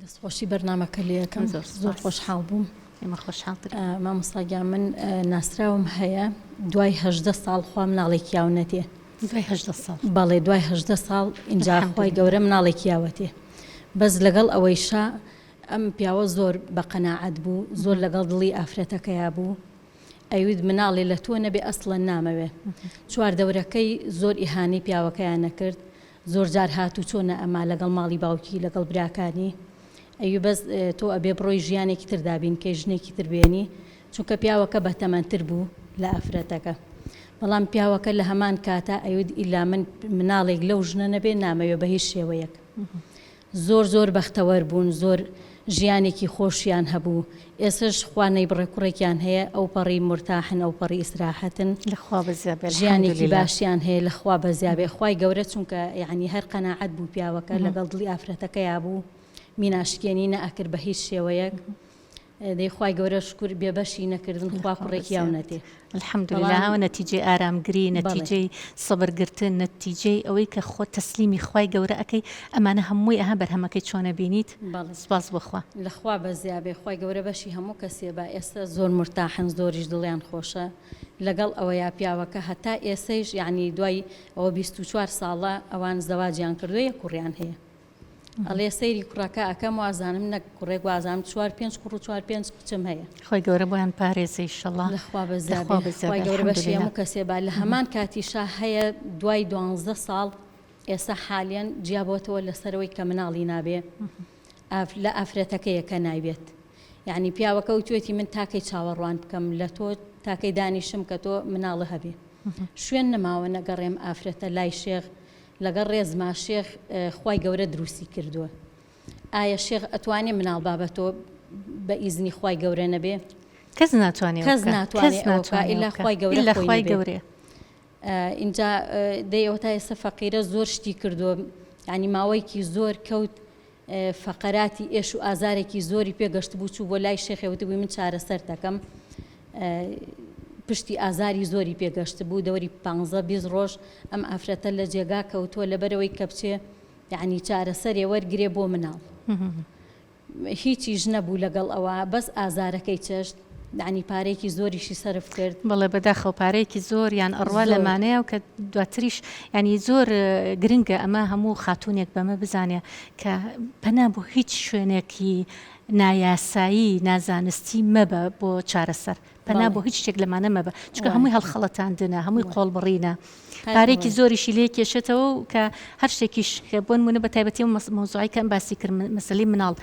دەست خۆشی بەرنامەکە لێ یەکەم زۆر زۆر خۆشحاڵ بووم ئێمە خۆشحاڵ مامۆساگیا من ناسراوم هەیە دوای هەدە ساڵ خوا مناڵێکی یاو نەتێ بەڵێ دوای هەدە ساڵ ئینجا خۆی گەورە مناڵێکی یاوەتێ بەس لەگەڵ ئەوەی شا ئەم پیاوە زۆر بە قەنەعات بوو زۆر لەگەڵ دڵی ئافرەتەکەیا بوو ئەوید مناڵێ لە تۆ نەبێ ئەسڵە نامەوێ چوار دەورەکەی زۆر ئیهانەی پیاوەکەیان نەکرد زۆرجار هات و چۆ نەئەما لەگەڵ ماڵی باوکی لەگەڵ براکانی ئەوی بەس تۆ ئەبێ بڕۆی ژیانێکی تر دابینکەی ژنێکی تر بێنی چونکە پیاوەکە بەتەمەن تر بوو لە ئافرەتەکە بەڵام پیاوەکە لەهەمان کاتا ئەیوت ئیلا من مناڵێک لەو ژنە نەبێ نامەوێ بەهیچ شێوەیەک زۆر زۆر بەختەوەر بوون زۆر ژیانێکی خۆشیان هەبوو ئێسش خوا نەیبڕێ کوڕێکیان هەیە ئەوپەڕی مورتاحن ئەوپەڕی ئیسراحەتن لە خوا بەزیابێ الحمد ژیانێکی للە. باشیان هەیە لە خوا بەزیابێ خوای گەورە چونکە یەعنی هەر قەناعەت بوو پیاوەکە لەگەڵ دڵی ئافرەتەکەیا بوو میناشکێنی نەئەکرد بە هیچ شێوەیەک. دەی خوای گەورە شکور بێ بەشی نەکردن خوا کوڕێکی یاو نەدێ الحمدللە ئەوە نەتیجەی ئارامگری نەتیجەی سەبر گرتن نەتیجەی ئەوەی کە خۆت تەسلیمی خوای گەورە ئەکەی ئەمانە هەمووی ئەها بەرهەمەکەی چۆنە بینیت سوپاس بۆ خوا لە خوا بەزیا بێ خوای گەورە بەشی هەموو کەسێ با ئێستا زۆر مورتاحن زۆریش دڵیان خۆشە لەگەڵ ئەوەیا پیاوەکە هەتا ئێسەیش یەعنی دوای ئەوە بیست و چوار ساڵە ئەوان زەواجیان کردوە یەک کوڕیان هەیە. ئەڵێ سەیری کوڕەکە ئەکەم وازانم نەک کوڕێک وازانم چوار پێنج کوڕ و چوار پێنج کچم هەیە. خوای گەورە بۆیان پارێزێ ئیشەڵا. لە خوا بەزیا بێ خوای گەورە بەشی هەموو کەسێ با لە هەمان کاتیشا هەیە دوای دوانزدە ساڵ ئێستا حالیەن جیا بۆتەوە لەسەرەوەی کە مناڵی نابێ ئاف لە ئافرەتەکەیە کە نایبێت یەعنی پیاوەکە وتوێتی من تاکەی چاوەڕوان بکەم لە تۆ تاکەی دانیشم کە تۆ مناڵە هەبێ شوێن نەماوە نەگەڕێم ئافرەتە لای شێخ لەگەڵ ڕێزما شێخ خوای گەورە دروستی کردوە ئایە شێخ ئەتوانێ مناڵ با بە تۆ بە ئیزنی خوای گەورە نەبێ کەس ناتوانێ کەس ناتوانێ ئەوە بکا ئیلا خوای گەورە خوای گەورە ئینجا دەی ئەوە تا ئێستا فەقیرە زۆر شتی کردوە یانی ماوەیەکی زۆر کەوت فەقەراتی ئێش و ئازارێکی زۆری پێ گەشتبوو چوو بۆ لای شێخێ وتبووی من چارەسەر دەکەم پشتی ئازاری زۆری پێ گەشتبوو دەوری پانزە بیست ڕۆژ ئەم ئافرەتە لە جێگا کەوتووە لەبەرەوەی کە بچێ یعنی چارەسەرێ وەرگرێ بۆ مناڵ هیچیش نەبوو لەگەڵ ئەوە بەس ئازارەکەی چێشت دانی پارەیەکی زۆریشی سەرف کرد. بەڵێ بەداخەوە پارەیەکی زۆر یان ئەڕوا لەمانەیە و کە دواتریش ینی زۆر گرنگە ئەمە هەموو خاتونێک بەمە بزانێ کە پەنا بۆ هیچ شوێنێکی نایاسایی نازانستی مەبە بۆ چارەسەر پەنا بۆ هیچ شتێک لەمانە مەبە چکە هەمووی هەڵخەڵەتاندنە هەمووی قۆڵبڕینە. پارەیەکی زۆریشی لێ کێشێتەوە و کە هەر شتێکیش کە بۆ نموونە بە تایبەتی ئەو مەوزوعەی کە باسی کرد مەسەلەی مناڵ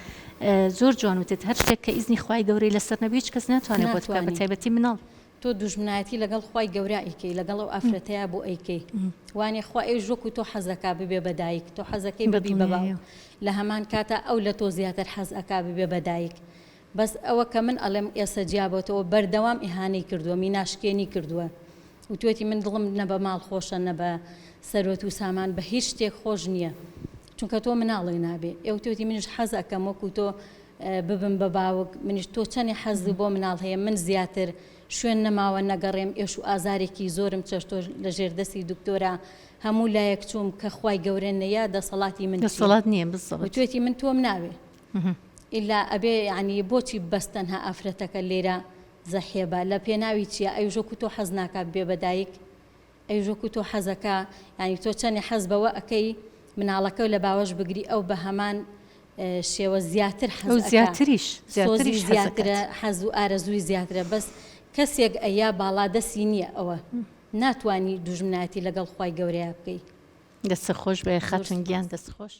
زۆر جوان وتت هەر شتێک کە ئیزنی خوای گەورەی لەسەر نەبی هیچ کەس ناتوانێت بۆت بکات بە تایبەتی مناڵ تۆ دوژمنایەتی لەگەڵ خوای گەورە ئەیکەی لەگەڵ ئەو ئافرەتەیە بۆ ئەیکەی وانێ خوا ئێ ژۆک و تۆ حەزەکە ببێ بەدایک تۆ حەزەکەی بەبی بەباو لە هەمان کاتە ئەو لە تۆ زیاتر حەز ئەکا ببێ بەدایک بەس ئەوە کە من ئەڵێم ئێسە جیابۆتەوە بەردەوام ئیهانەی کردوە میناشکێنی کردوە وتوەتی من دڵم نە بە ماڵ خۆشە نە بە سەروەت وسامان بە هیچ شتێک خۆش نیە چونکە تۆ مناڵی نابێ ئێ وتوەتی منیش حەز ئەکەم وەکو تۆ ببم بە باوک منیش تۆ چەنێ حەزی بۆ مناڵ هەیە من زیاتر شوێن نەماوە نەگەڕێم ئێش و ئازارێکی زۆرم چەشتۆ لە ژێر دەستی دکتۆرا هەموو لایەک چووم کە خوای گەورە نەیا دەسەڵاتی من چیە دەسەڵات نیە بزەبت وتوەتی من تۆم ناوێ ئیلا ئەبێ یەعنی بۆچی بەس تەنها ئافرەتەکە لێرە زەحیەبە لە پێناوی چیە ئەی ژۆکو تۆ حەز ناکا ببێ بە دایک ئەی ژۆکو تۆ حەزەکا یەعنی تۆ چەنێ حەز بەوە ئەکەی مناڵەکەو لە باوەش بگری ئەو بە هەمان شێوە زیاتر حەز ئەکا زیاتریش زیاتریش زیاترە حەزو ئارەزوی زیاترە بەس کەسێک ئەیا باڵا دەسی نیە ئەوە ناتوانی دوژمنایەتی لەگەڵ خوای گەورەیا بکەی دەست خۆش بێ خاتون گیان دەست خۆش.